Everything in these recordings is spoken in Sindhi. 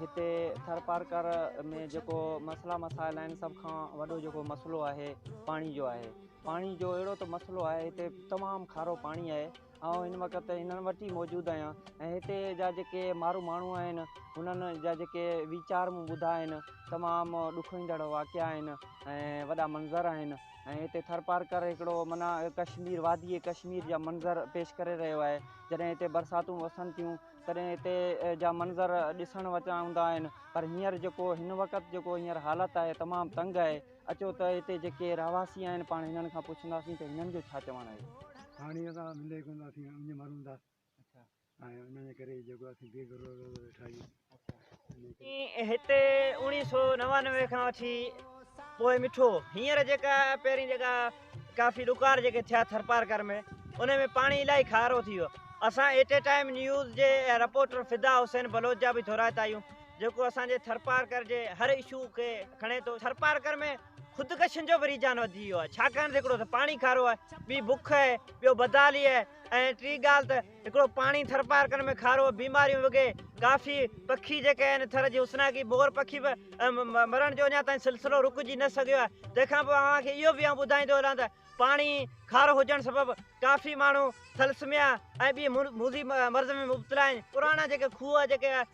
هتي ٿرپارڪر ۾ جيڪو مسئلا مسائل آهن سڀ کان وڏو جيڪو مسئلو آهي پاڻي جو آهي پاڻي جو اهڙو ته مسئلو آهي هتي تمام کارو پاڻي آهي آئون هن وقت هنن وٽ ئي موجود آهيان ۽ هتي جا جيڪي مارو ماڻهو آهن هنن جا جيڪي ويچار مون ٻڌا آهن تمام ڏکوئيندڙ واقعا آهن ۽ وڏا منظر آهن ۽ هتي ٿرپارڪر هڪڙو منا ڪشمير وادي ڪشمير جا منظر پيش ڪري رهيو آهي جڏهن هتي برساتون وسن ٿيون تڏهن هتي جا منظر ڏسڻ وٽان هوندا آهن پر هينئر جيڪو هن وقت جيڪو هينئر حالت آهي تمام تنگ آهي اچو ته هتي جيڪي رهواسي آهن پاڻ هنن کان پڇنداسين ته هنن جو ڇا چوڻ آهي پاڻي اسان ملي ڪونه ٿو اسين اڃ مرون ٿا ۽ ان جي ڪري جيڪو اسين بي گهرو ويٺا آهيون هتي اوڻيهه سؤ نوانوي کان وٺي پوء مٺو هينئر جيڪا پهرين جيڪا ڪافي ڏڪار جيڪي ٿيا ٿرپارڪر ۾ ان ۾ پاڻي الائي کارو ٿي ويو اسان ايٽ اي ٽائم نيوز جي رپورٽر فدا حسين بلوچ جا به ٿورائتا آهيون جيڪو اسان جي ٿرپارڪر جي هر اشو کي کڻي ٿو ٿرپارڪر ۾ خودڪشن جو به رجحان وڌي ويو آهي ڇاڪاڻ ته هڪڙو ته پاڻي کارو آهي ٻي بک آهي ٻيو بدحالي آهي ۽ ٽي ڳالهه ته هڪڙو پاڻي ٿرپارڪن ۾ کارو، بيماريون وگي ڪافي پکي جيڪي آهن ٿر جي حسناڪي مور پکي به مرڻ جو اڃا تائين سلسلو رڪجي نه سگهيو آهي تنهن کان پوء اوهان کي اهو به آئون ٻڌائيندو هلان ته پاڻي کارو هجڻ سبب ڪافي ماڻهو ٿلسميا ۽ ٻي موذي مرض ۾ مبتلا آهن پراڻا جيڪي کوهه جيڪي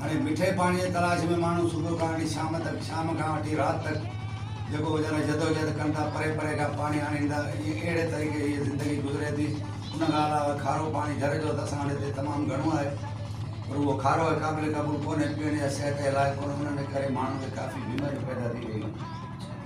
هاڻي مٺي پاڻي جي تلاش ۾ ماڻهو صبح کان وٺي شام تڪ، شام کان وٺي رات تڪ جيڪو ويچارا جدوجهد ڪن ٿا، پري پري کان پاڻي آڻين ٿا، ائين اهڙي طريقي هيء زندگي گذري ٿي. ان کان علاوه کارو پاڻي گهر جو ته اسان وٽ هتي تمام گهڻو آهي، پر اهو کارو آهي قابل قبول ڪونهي، پيئڻ يا صحت جي لائق ڪونهي، انهن جي ڪري ماڻهن کي ڪافي بيماريون پيدا ٿي رهيون آهن.